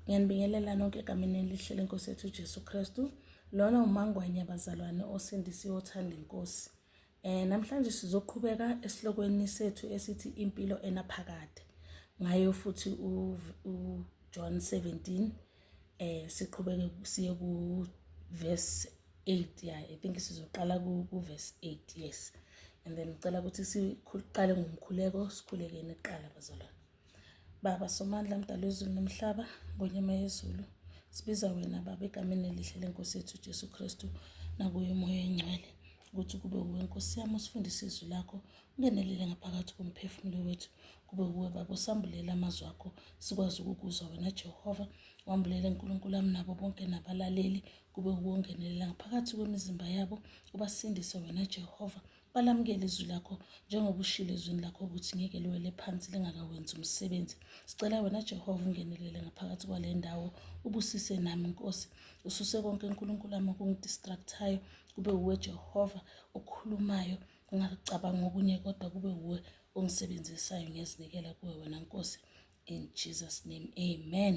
Ngiyanibingelela nonke egameni elihle lenkosi yethu uJesu Kristu. Lona umangwenya bazalwane osindisiwe othanda inkosi. Eh namhlanje sizoqhubeka esihlokweni sethu esithi impilo enaphakade. Ngayo futhi uJohn 17 eh siqhubeke siye ku verse 8 yeah i think sizoqala ku verse 8 yes and then ngicela ukuthi siqale ngomkhuleko sikhulekeni kuqala bazalwane baba somandla mdala wezulu nomhlaba ngonyama yezulu sibiza wena baba egameni elihle lenkosi yethu ujesu kristu nakuye umoya oyingcwele ukuthi kube wuwe nkosi yami usifundise izwi lakho ungenelele ngaphakathi komphefumulo wethu kube wuwe baba usambulela amazwi akho sikwazi ukukuzwa wena jehova wambulela nkulunkulu ami nabo bonke nabalaleli Kube ukungenelela ngaphakathi kwemizimba yabo ubasindise wena Jehova. Balamukele izwi lakho njengoba ushilo ezwini lakho ukuthi ngeke liwele phansi lingakawenzi umsebenzi. Sicela wena Jehova ungenelele ngaphakathi kwale ndawo ubusise nami Nkosi. Ususe konke uNkulunkulu wami okungidistractayo kube uwe Jehova okhulumayo ngingacabanga okunye kodwa kube uwe ongisebenzisayo ngiyazinikela kuwe wena Nkosi. In Jesus name amen.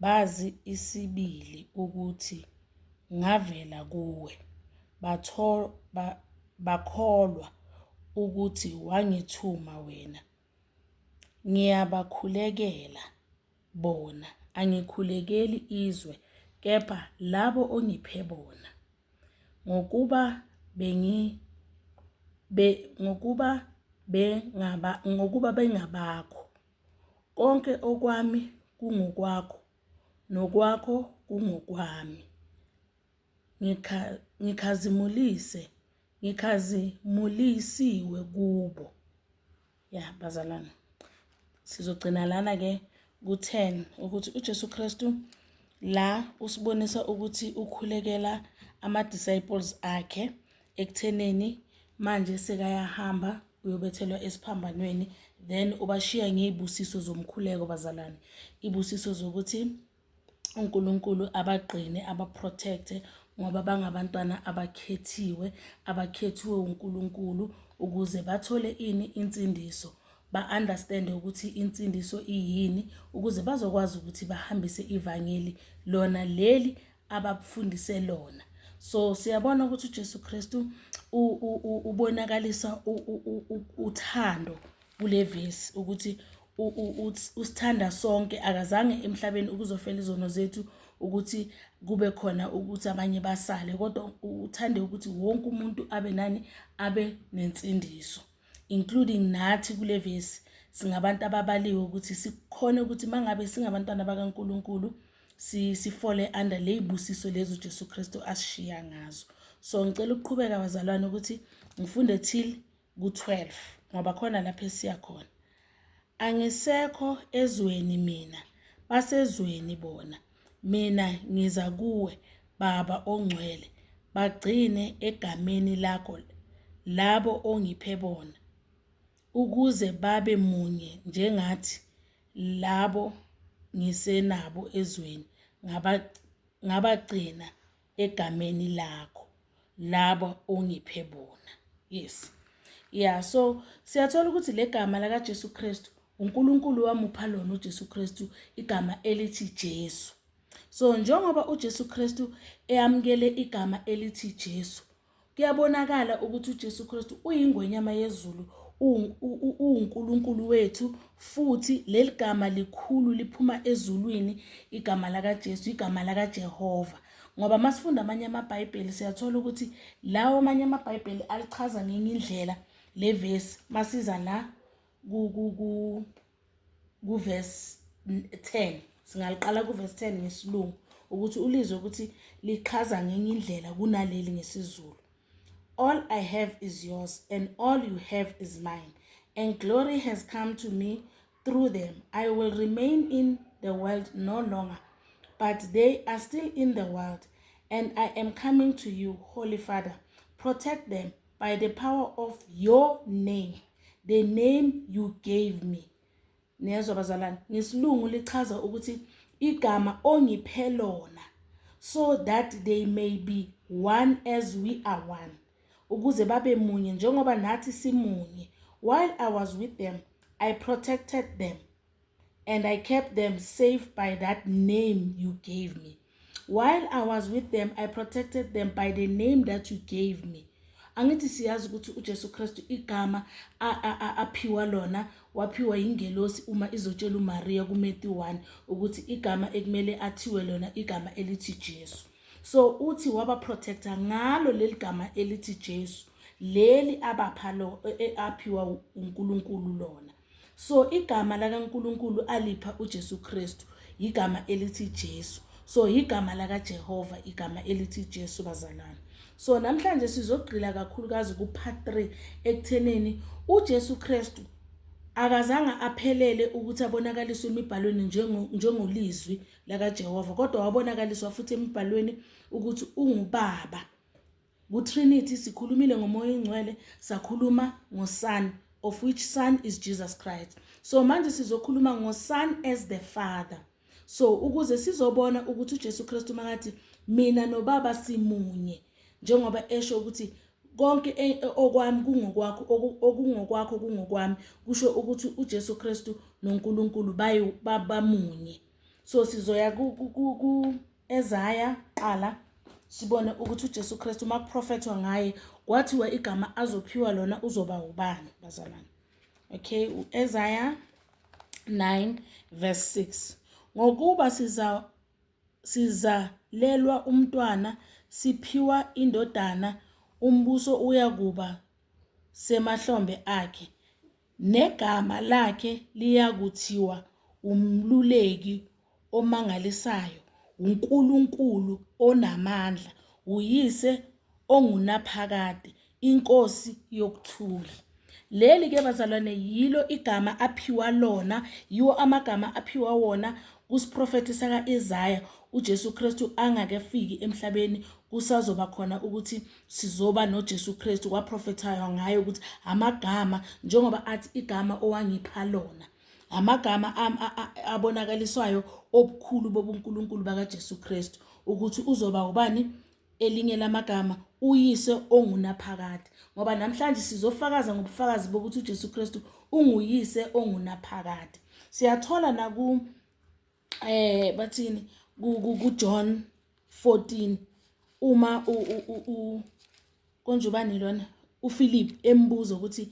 Bazi isibili ukuthi ngavela kuwe, batho, ba, bakholwa ukuthi wangithuma wena. Ngiyabakhulekela bona, angikhulekeli izwe, kepha labo ongiphe bona, ngokuba bengi be, ngokuba bengaba ngokuba bengabakho. Konke okwami kungokwakho nokwakho kungokwami. Ngikha, ngikhazimulise, ngikhazimulisiwe kubo. Ya bazalwane, sizogcina lana-ke ku-ten ukuthi uJesu Kristu la usibonisa ukuthi ukhulekela ama-disciples akhe ekuthenini manje sekayahamba uyobethelwa esiphambanweni then ubashiya ngey'busiso zomkhuleko bazalwane iy'busiso zokuthi uNkulunkulu abagqine abaprotecte ngoba bangabantwana abakhethiwe abakhethiwe uNkulunkulu ukuze bathole ini insindiso ba-understande ukuthi insindiso iyini ukuze bazokwazi ukuthi bahambise ivangeli lona leli abakufundise lona so siyabona ukuthi uJesu Kristu ubonakalisa uthando kule vesi ukuthi usithanda sonke akazange emhlabeni ukuzofela izono zethu ukuthi kube khona ukuthi abanye basale kodwa uthande ukuthi wonke umuntu abe nani abe nensindiso including nathi kule vesi singabantu ababaliwe ukuthi sikhona ukuthi mangabe singabantwana bakaNkuluNkulu si sifole under ley'busiso lezi uJesu Kristu asishiya ngazo so ngicela ukuqhubeka bazalwane ukuthi ngifunde till ku-12 ngoba khona lapho esiya khona angisekho ezweni mina basezweni bona mina ngiza kuwe baba ongcwele bagcine egameni lakho labo ongiphe bona ukuze babe munye njengathi labo ngisenabo ezweni ngabagcina egameni lakho labo ongiphe bona yes ya so siyathola ukuthi le gama lakaJesu Kristu uNkulunkulu wamupha lona uJesu Kristu igama elithi Jesu so njengoba uJesu Kristu eyamukele igama elithi Jesu Kuyabonakala ukuthi uJesu Kristu uyingwenyama yezulu, uwuNkulunkulu wethu futhi leli gama likhulu liphuma ezulwini, igama lakaJesu, igama lakaJehova. Ngoba masifunda amanye amaBhayibheli siyathola ukuthi lawo amanye amaBhayibheli alichaza ngenye indlela le vesi masiza la ku kuvesi 10 singaliqala kuvesi 10 ngesilungu ukuthi ulizwe ukuthi lichaza ngenye indlela kunaleli ngesizulu all i have is yours and all you have is mine and glory has come to me through them i will remain in the world no longer but they are still in the world and i am coming to you holy father protect them by the power of your name the name you gave me niyezwa bazalwane ngesilungu lichaza ukuthi igama ongiphe lona so that they may be one as we are one ukuze babe munye njengoba nathi simunye while i was with them i protected them and I kept them safe by that name you gave me. While I was with them, I protected them by the name that you gave me. Angithi siyazi ukuthi uJesu Kristu igama aphiwa lona waphiwa ingelosi uma izotshela uMaria kuMethi 1 ukuthi igama ekumele athiwe lona igama elithi Jesu. So uthi waba protector ngalo leligama elithi Jesu leli abapha lo e, e, aphiwa uNkulunkulu lona. so igama lakaNkulunkulu alipha uJesu Kristu yigama elithi Jesu so yigama lakaJehova igama elithi Jesu bazalwane so namhlanje sizogqila kakhulukazi ku part 3 ekutheneni uJesu Kristu akazange aphelele ukuthi abonakaliswe emibhalweni njengolizwi lakaJehova kodwa wabonakaliswa futhi emibhalweni ukuthi ungubaba KuTrinity sikhulumile ngomoya oyingcwele, sakhuluma ngoSon of which Son is Jesus Christ. So manje sizokhuluma ngoSon as the Father. So ukuze sizobona ukuthi uJesu Kristu makathi mina noBaba simunye njengoba esho ukuthi konke e, e, okwami kungokwakho okungokwakho kungokwami kusho ukuthi uJesu Kristu noNkulunkulu bamunye so sizoya ku ezaya kuqala sibone ukuthi uJesu Kristu uma kuprofethwa ngaye kwathiwa igama azophiwa lona uzoba ubani bazalwane okay uEsaya 9 verse 6 ngokuba siza sizalelwa umntwana siphiwa indodana umbuso uyakuba semahlombe akhe Negama lakhe liyakuthiwa uMluleki Omangalisayo, uNkulunkulu Onamandla, uYise Ongunaphakade, iNkosi Yokuthula. Leli ke bazalwane yilo igama aphiwa lona, yiwo amagama aphiwa wona kusiprofethi saka-Isaya uJesu Kristu angakefiki emhlabeni kusazoba khona ukuthi sizoba noJesu Kristu kwaprofethaywa ngaye ukuthi amagama njengoba athi igama owangipha lona amagama abonakaliswayo obukhulu bobuNkulunkulu bakaJesu Kristu ukuthi uzoba ubani elinye lamagama uyise ongunaphakade ngoba namhlanje sizofakaza ngobufakazi bokuthi uJesu Kristu unguyise ongunaphakade siyathola naku eh bathini ku John 14 uma u u konje ubani lona uPhilip embuza ukuthi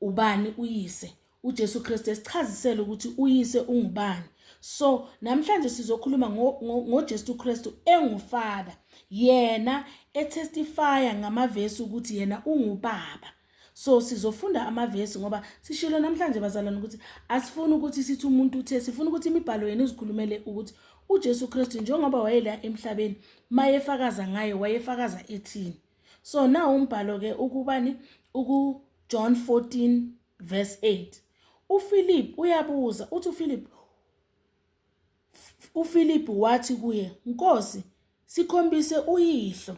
ubani uyise uJesu Kristu esichazisela ukuthi uyise ungubani so namhlanje sizokhuluma ngoJesu Kristu engufada yena etestifya ngamavesi ukuthi yena ungubaba So sizofunda amavesi ngoba sishilo namhlanje bazalwane ukuthi asifuni ukuthi sithi umuntu uthe sifuna ukuthi imibhalo yenu izikhulumele ukuthi uJesu Kristu njengoba wayela emhlabeni mayefakaza ngaye wayefakaza ethini so na umbhalo ke ukubani uku John 14 verse 8 uPhilip uyabuza uthi uPhilip uPhilip wathi kuye Nkosi sikhombise uyihlo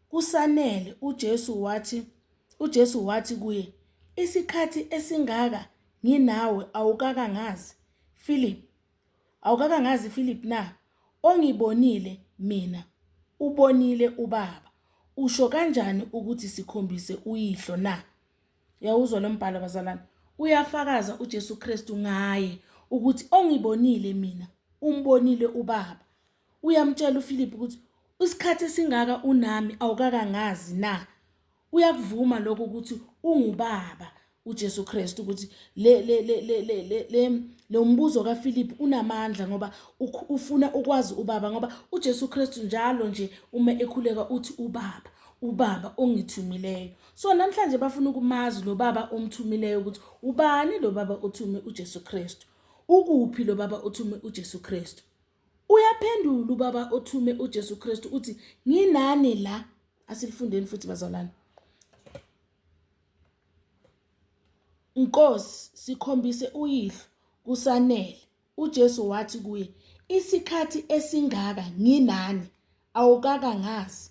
Kusanele, uJesu wathi, uJesu wathi kuye, Isikhathi esingaka nginawe awukakangazi, Philip? Awukakangazi, Philip na? Ongibonile Mina, ubonile uBaba. Usho kanjani ukuthi sikhombise uYihlo na? Yawuzwa lo mbhalo, bazalwane? Uyafakaza uJesu Kristu ngaye ukuthi ongibonile Mina, umbonile uBaba. Uyamtshela uFiliphu ukuthi isikhathi esingaka unami awukakangazi na? Uyakuvuma lokho ukuthi ungubaba uJesu Kristu ukuthi le le le le le le le lo mbuzo kaFiliphu unamandla ngoba ufuna ukwazi ubaba ngoba uJesu Kristu njalo nje uma ekhuleka uthi ubaba ubaba ongithumileyo so namhlanje bafuna ukumazi lo baba omthumileyo ukuthi ubani lo baba othume uJesu Kristu ukuphi lo baba othume uJesu Kristu Uyaphendula ubaba othume uJesu Kristu uthi nginani la asilifundeni futhi bazalwane. Nkosi sikhombise uyihlo kusanele uJesu wathi kuye isikhathi esingaka nginani awukaka ngazi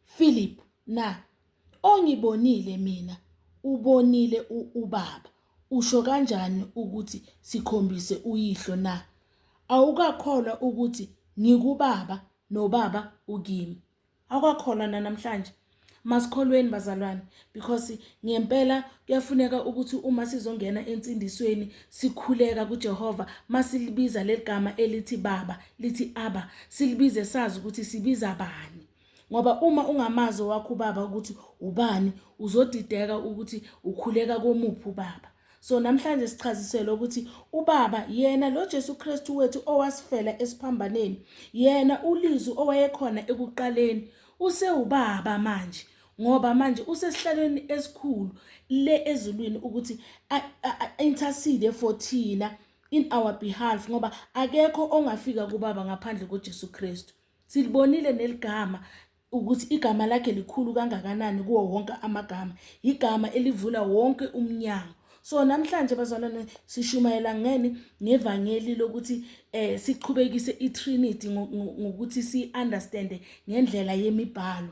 Philip, Na, ongibonile mina ubonile ubaba. Usho kanjani ukuthi sikhombise uyihlo na? Awukakholwa ukuthi ngikubaba nobaba ukimi. Awukakholwa nanamhlanje. Masikholweni bazalwane, because ngempela kuyafuneka ukuthi uma sizongena ensindisweni sikhuleka kuJehova masilibiza leligama elithi baba lithi aba silibize sazi ukuthi sibiza bani ngoba uma ungamazi wakho ubaba ukuthi ubani uzodideka ukuthi ukhuleka komuphi ubaba so namhlanje sichazisela ukuthi ubaba yena lo Jesu Kristu wethu owasifela esiphambaneni yena ulizwi owayekhona ekuqaleni usewubaba manje ngoba manje usesihlalweni esikhulu le ezulwini ukuthi intercede for thina in our behalf ngoba akekho ongafika kubaba ngaphandle koJesu Kristu silibonile neligama ukuthi igama lakhe likhulu kangakanani kuwo wonke amagama igama elivula wonke umnyango so namhlanje bazalwane sishumayela ngeni ngevangeli lokuthi eh siqhubekise iTrinity ngokuthi siunderstand ngendlela yemibhalo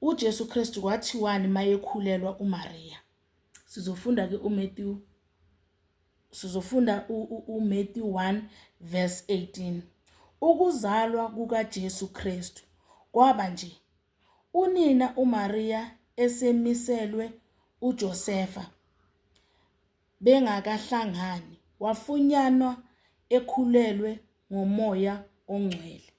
UJesu Kristu kwathiwani mayekhulelwa uMariya? Sizofunda ke uMatthew sizofunda uMatthew 1 verse 18. Ukuzalwa kukaJesu Kristu kwaba nje. Unina uMariya esemiselwe uJosefa bengakahlangani wafunyanwa ekhulelwe ngomoya ongcwele.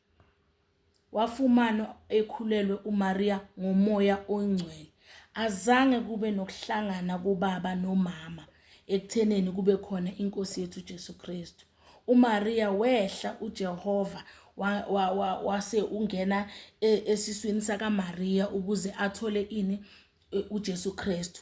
Wafumanwa ekhulelwe uMariya ngomoya oyingcwele. Azange kube nokuhlangana kobaba nomama ekutheneni kube khona iNkosi yethu uJesu Kristu. UMariya wehla uJehova wase ungena e, esiswini sakaMariya ukuze athole ini e, uJesu Kristu.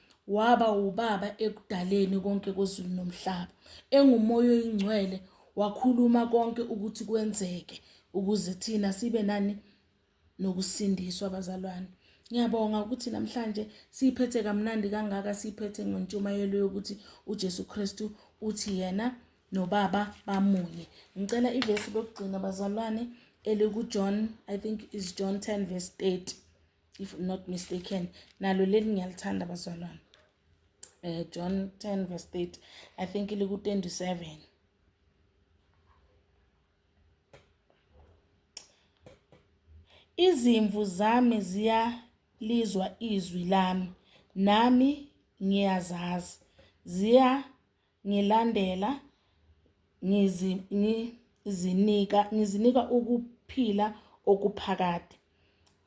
waba ubaba ekudaleni konke kwezulu nomhlaba. Engumoya oyingcwele wakhuluma konke ukuthi kwenzeke ukuze thina sibe nani nokusindiswa abazalwane. Ngiyabonga ukuthi namhlanje siyiphethe kamnandi kangaka siyiphethe ngentshumayelo yokuthi uJesu Kristu uthi yena nobaba bamunye. Ngicela ivesi lokugcina bazalwane elikuJohn I think is John 10 verse 30. if I'm not mistaken nalo leli ngiyalithanda bazalwane eh John 10 verse 30 I think liku 27 Izimvu zami ziyalizwa izwi lami nami ngiyazazi ziya ngilandela ngizi, ngizinika, ngizinika ukuphila okuphakade.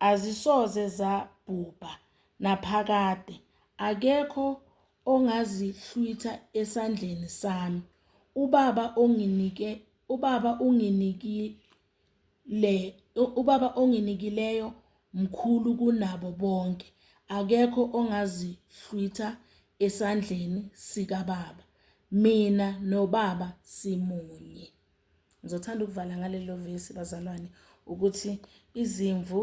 Azisoze zabhubha naphakade, akekho ongazihlwitha esandleni sami. UBaba onginike, uBaba unginiki, le ubaba onginikileyo mkhulu kunabo bonke akekho ongazihlwitha esandleni sikababa mina nobaba simunye. Ngizothanda ukuvala ngalelo vesi bazalwane ukuthi izimvu.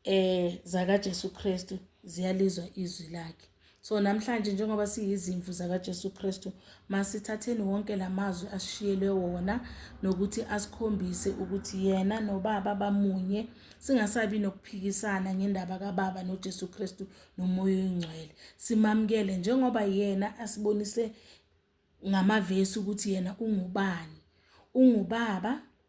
eh zakaJesu Kristu ziyalizwa izwi lakhe so namhlanje njengoba siyizimvu zakaJesu Kristu masithatheni wonke lamazwi asishiyelwe wona nokuthi asikhombise ukuthi yena nobaba bamunye singasabi nokuphikisana ngendaba kaBaba noJesu Kristu nomoya oyingcwele simamukele njengoba yena asibonise ngamavesi ukuthi yena ungubani ungubaba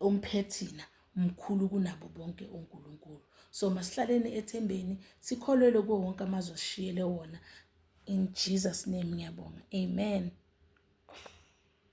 omphethina mkhulu kunabo bonke uNkulunkulu so masihlaleni ethembeni sikholelwe kuwo wonke amazwi asishiyele wona in Jesus name ngiyabonga amen